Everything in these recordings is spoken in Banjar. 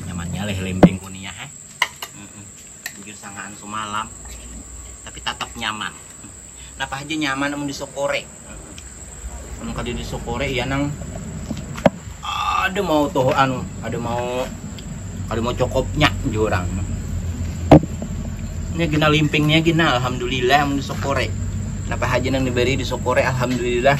nyamannya leh lembeng kunia eh bujur sangaan sumalam tapi tetap nyaman kenapa aja nyaman namun disokore namun kali disokore ya nang ada mau tuh anu ada mau ada mau cokopnya jurang ini gina limpingnya gina alhamdulillah namun disokore kenapa aja nang diberi disokore alhamdulillah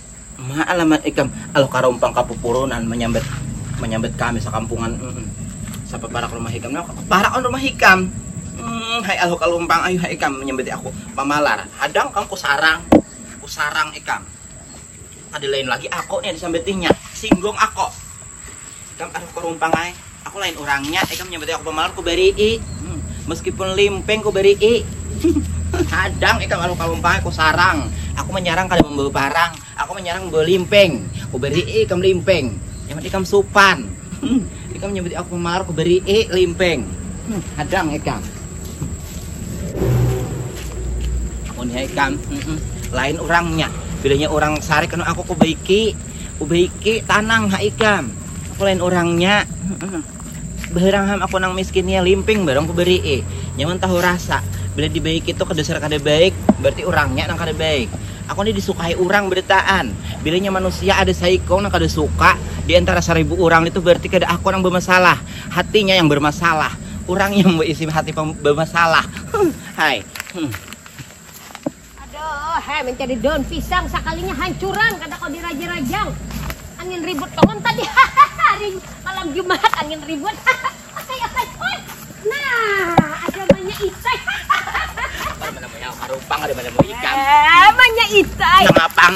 Ma alamat ikam aluh karumpang kapupurunan manyambat manyambat kami sakampungan mm sapa parak rumah ikam nah parak on rumah ikam mm hai aluh kalumpang ayu hai ikam manyambati aku mamalar hadang kam kusarang kusarang ikam kada lain lagi ako nih disambatinya singgung ako. Ikam aduh karumpang ai, aku lain urangnya, ikam nyambatai aku pamalar kubarii, meskipun limping kubarii. Hadang ikam aduh karumpang ai, kusarang, aku manyarang kada mambawa parang, aku manyarang mambawa limping, kubarii ikam limping, nyaman ikam supan, ikam nyambatai aku pamalar kubarii, limping, hadang ikam. Amunnya ikam lain urangnya, bilanya urang sarik kanu aku kubaiki. Ubaiki tanang ha ikam. Aku lain orangnya. Baharang ham aku nang miskinnya limping baru aku beri eh. Nyaman tahu rasa. Bila dibaiki itu kedasar kada baik, berarti orangnya nang kada baik. Aku ni disukai orang badataan. Bilanya manusia ada saikung nang kada suka di antara saribu orang itu berarti kada aku nang bamasalah. Hatinya yang bermasalah. Orangnya yang baisi hati bermasalah. Hai. Aduh, heh mencari daun pisang sakalinya hancuran kada kawa dirajang-rajang. Angin ribut kawan tadi. Hari malam Jumat angin ribut. Asai asai oi. Nah, ada manya isai. Mana manya harupang ada manya ikam. Eh, manya isai. Nang apang.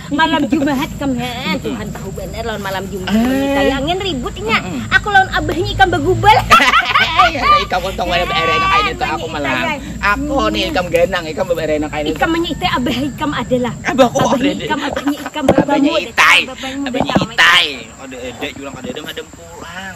malam jumahat kam haa tuhan tahu banar lawan malam jumahat wanita ya angin ribut inya aku lawan abahnya ikam bagubal ikam untung wala beere enak aini tuh aku malam aku nih ikam ganang ikam beere enak aini ikam manya itai abah ikam adalah abahku abahnya ikam abahnya ikam abahnya itai abahnya itai ada ada curang ada ada madam pulang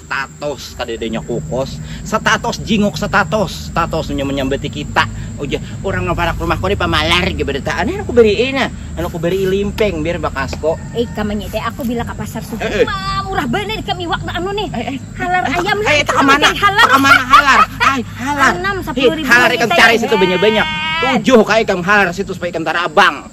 Status, kadada inya kukus. Status, jinguk status. Status inya manyambati kita. Ujar, urang nang parak rumahku ni pamalar ja barataan. Nih, aku barii nah. Lalu aku barii limping biar bakasku. Ikam manyadai aku bila ka pasar subuh tu ma, murah banar ikam iwak tu anu nih. Halar ayam lah. Itu kamanah, kamanah halar. Ai, halar. Anam, sapuluh ribu. Halar ikam cari situ banyak-banyak. Tujuh ka ikam halar situ supaya ikam tarabang.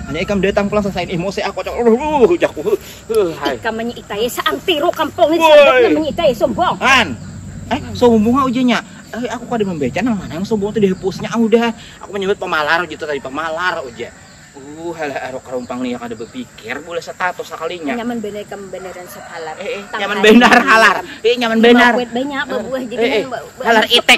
Hanya ikam datang pulang sasain ih mose ah kocak luhuh ujakku huh hai. Ikam manyiitae saang tiru kampung ini sababnya manyiitae sombong. Han. Eh sombong ha ujanya. Eh aku kada mambaca nang mana yang sombong tu dihapusnya ah udah. Aku manyambat pamalar ujar tu tadi pamalar ujar. Uh halah aruk karumpang ni ya kada bapikir bulah satatus sakalinya. Nyaman banar ikam banaran satalar. Eh eh nyaman banar halar. Eh nyaman banar. Lima kuit banyak babuah jadi nang halar itik.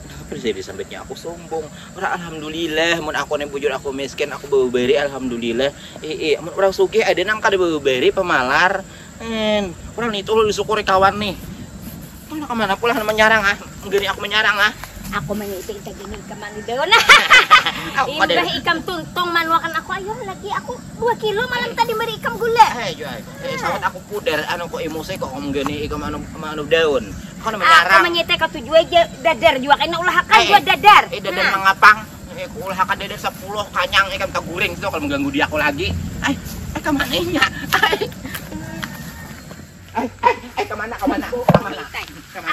Napa Zai disambitnya aku sumbung. Orang alhamdulillah mun aku nih bujur aku miskin aku beberi alhamdulillah. Eh eh mun orang sugih ada nang kada beberi pemalar. En, orang nitu ulun syukuri kawan nih. Mana ka mana pulang menyarang ah. Gini aku menyarang ah. Aku manyuti inta gini ikam mandi daun. Imbah ikam tuntung manuakan aku ayo lagi aku dua kilo malam tadi meri ikam gula. Hai, jual. Ih, sawat aku puder anu kok emosi kok ngomong gini ikam anu anu daun. Kau anu menyarang. Aku menyete kau tujuh aja dadar juga kena ulahakan eh, dua eh. dadar. Eh dadar nah. mengapang. Eh ku ulahakan dadar sepuluh kanyang ikam eh, taguring situ kalau mengganggu dia aku lagi. Eh, eh kemana nya? Eh, eh, eh kemana kemana kemana?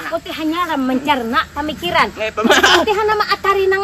Aku teh hanya mencerna pemikiran. Eh, aku teh nama atari nang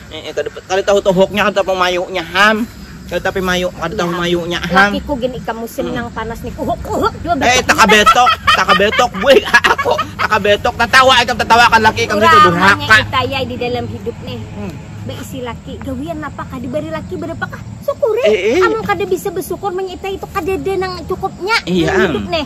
Eh, kada, kada tahu tuhuknya, kada tahu mayunya ham. Kada tapi mayu, kada tahu mayunya ham. Lakiku gin ikam musim hmm. nang panas ni kuhuk kuhuk jua betok. Eh taka betok, taka betok gue aku taka betok tatawa ikam tatawa kan laki ikam itu durhaka. Itaya di dalam hidup nih. Hmm. Beisi laki, gawian apa kah diberi laki berapa kah? Syukuri. Eh, eh. Amun kada bisa bersyukur menyitai itu kada ada nang cukupnya iya, hidup nih.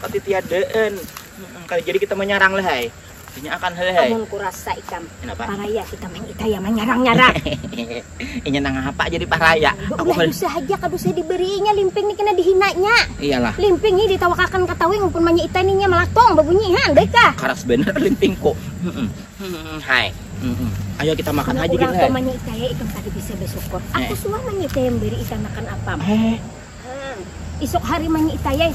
Tapi tiadaan. Kali jadi kita menyerang lah hai. Inya akan hal hai. Amun kurasa ikam. Kenapa? Paraya kita main kita ya menyerang-nyerang. Inya nang apa jadi paraya. Aku udah bisa aja kada usah diberinya limping ni kena dihinanya. Iyalah. Limping ni ditawakakan ke tawing pun manya ita ni nya melakong babunyihan baik kah? Karas bener limping ko. Hai. Ayo kita makan aja kita. Orang manya ita ya ikam tadi bisa bersyukur. Aku suah manya ita yang beri ita makan apam. Eh. Isuk hari manyiitayai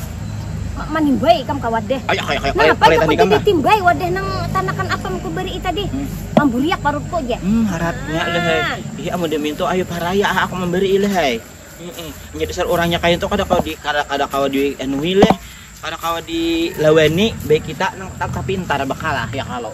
manimbai ikam ka wadeh. Napa jar ku jadi timbai wadeh nang tanakan apam ku barii tadi? Mamburiak parutku jar. Hmm haratnya leh ai. Ih amun dimintu ayu paraya ah aku mambarii leh ai. Inya dasar urang nya kaya tu kada kawa di kada kawa di anuhi leh, kada kawa di lawani, baik kita nang tapintar bakalah ya kalo.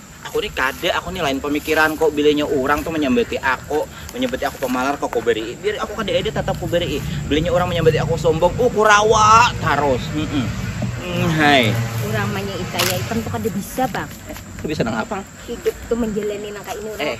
Aku ni kada, aku ni lain pamikiran ko, bilanya urang tu manyambati ako, manyambati aku pamalar ko kubarii, biar aku kada ada tatap kubarii, bilanya urang manyambati aku sombong, uh kurawa tarus, humm umhai. Urang manyaitai ai pang tu kada bisa pang. Kada bisa nang apa? Hidup tu manjalani nang kaini urang.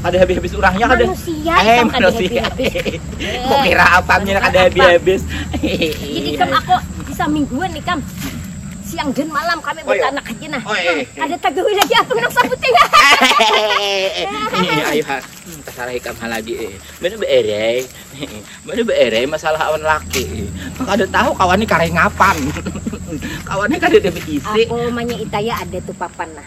kada habis habis urangnya kada manusia eh manusia kok kira apa nih kada habis habis jadi kam aku bisa mingguan nih kam siang dan malam kami oh, iya. bertanak aja nah oh, iya, iya, iya. ada tagawi lagi apa nang sabut ya ayo ha hmm, tersalah ikam hal lagi eh. mana beerei mana beerei masalah awan laki kau ada tahu kawan ini karengapan kawannya kada ada berisi aku manya itaya ada tuh papan nah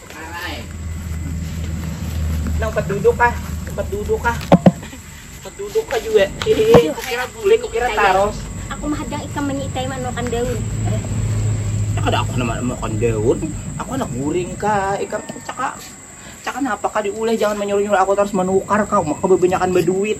Nang tempat duduk kah? Tempat duduk kah? Tempat duduk kah juga? Hehehe, kukira gulai, kukira taros. Aku mah hadang ikam manyitai maan makan daun. Eh, ya kada aku handak makan daun. Aku handak guring kah? Ikam caka, caka napa kah diuleh? Jangan manyuruh-nyuruh aku tarus manukar kah? Uma kah babanyakan baduit.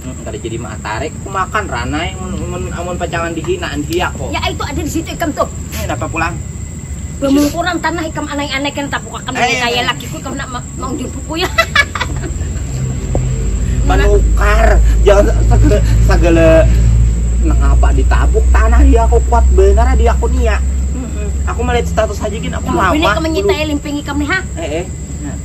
Hmm, kada jadi maatarik aku makan ranai mun mun amun pacangan dihinaan hiak ko. Ya ai tu ada di situ ikam tu. Eh, napa pulang? Bamungkuran tanah ikam anai-anai kena tapukak kami eh, kaya lakiku ikam nak ma maujur buku ya. Manukar jangan segala, segala nangapa ditabuk tanah dia aku kuat benar dia aku niat. Mm -mm. Aku melihat status aja gini aku lama. Bini kamu nyitai limping ikam nih ha. Eh eh. Nah.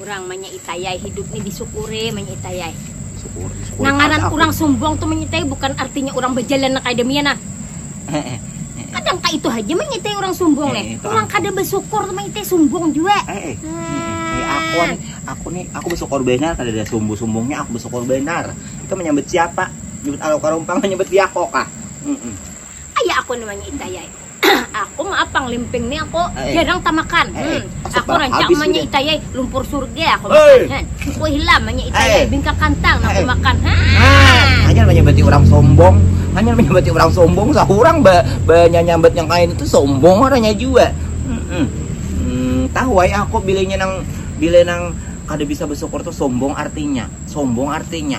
Urang manyitai ai hidup ni disyukuri manyitai ai. Syukuri, syukuri. Nang ngaran urang sumbung tu manyitai bukan artinya urang bajalan nang kaya demian nah. Kadang ka itu haja manyitai urang sumbung nih. Urang kada basyukur tu manyitai sumbung jua. Aku ni, aku ni, aku basyukur benar kada ada sumbung-sumbungnya, aku basyukur benar. Itu menyambut siapa? Menyambut alu karumpang, menyambut diako kah? Kaya aku ni manyitai ai. aku mah apang limping nih aku eh, eh. jarang tamakan eh, eh. Hmm. aku rancak manya itayai lumpur surga aku makan han aku hilam manya itayai bingka kantang aku makan ha hanya menyebati orang sombong hanya menyebati orang sombong sahurang ba banyak nyambat yang kain itu sombong orangnya juga hmm, hmm, tahu ya aku bilanya nang bila nang kada bisa bersyukur tuh sombong artinya sombong artinya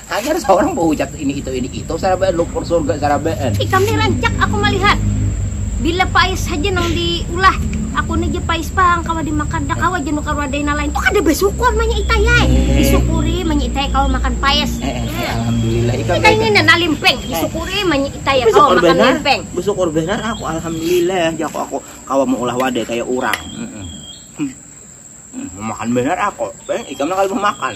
Hanyar saurang baucap ini itu ini itu sarabaan lumpur surga sarabaan. Ikam ni rancak aku malihat. Bila pais haja nang di ulah. Aku ni ja pais pang kawa di makan dah kawa ja nukar wadai nang lain tu kada basukur manya itai ai. Di sukuri manya itai kawa makan pais. Itai ni na limping di sukuri manya itai kawa makan limping. Basukur banar aku alhamdulillah jaku aku kawa maulah wadai kaya urang. Mamakan banar aku. Ikam nang kada mamakan.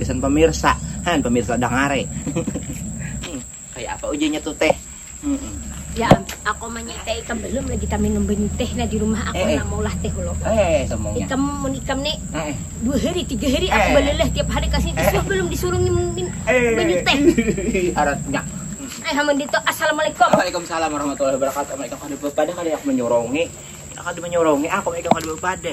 Gasan pemirsa, han pemirsa dangare. Kayak apa ujiannya tuh teh? Ya, aku mah teh ikam belum lagi tak minum banyu teh nah di rumah aku eh, eh. mau lah teh lo. Eh, eh, eh sombongnya. Ikam mun ikam nih eh, eh. dua hari tiga hari aku eh, balelah tiap hari kasih eh, eh. belum disuruh minum eh, banyu teh. Aratnya. Eh, hamun dito. Assalamualaikum. Waalaikumsalam warahmatullahi wabarakatuh. Mereka kada bepada kada yang menyorongi. Kada menyorongi aku mereka kada bepada.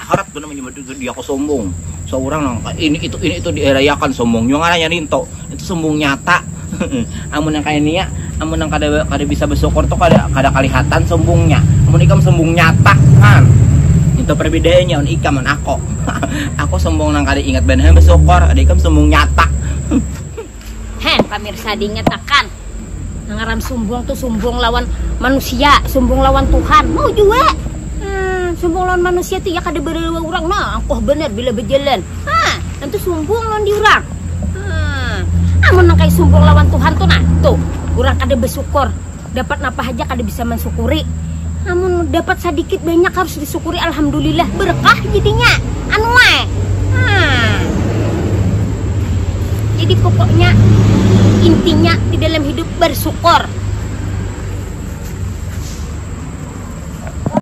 harap tu namanya dia kau sombong seorang nang ini itu ini itu dierayakan sombong juga ngaranya ninto itu sombong nyata amun yang kaya nia amun yang kada kada bisa bersyukur tu kada kada kelihatan sombongnya amun ikam sombong nyata kan itu perbedaannya amun ikam amun aku aku sombong nang kada ingat banar bersyukur ada ikam sombong nyata Heh, pamirsa dinyatakan ngaran sumbung tuh sumbung lawan manusia, sumbung lawan Tuhan. Mau jua. Hmm, sumbung lawan manusia tuh ya kada berawa orang. Nah, angkoh bener bila berjalan. Hah, itu sumbung lawan di orang. Hmm. Amun nang kayak sumbung lawan Tuhan tuh nah, tuh orang kada bersyukur. dapat napa haja kada bisa mansyukuri amun dapat sadikit banyak harus disyukuri alhamdulillah berkah jadinya anu ai haa jadi pokoknya intinya di dalam hidup bersyukur.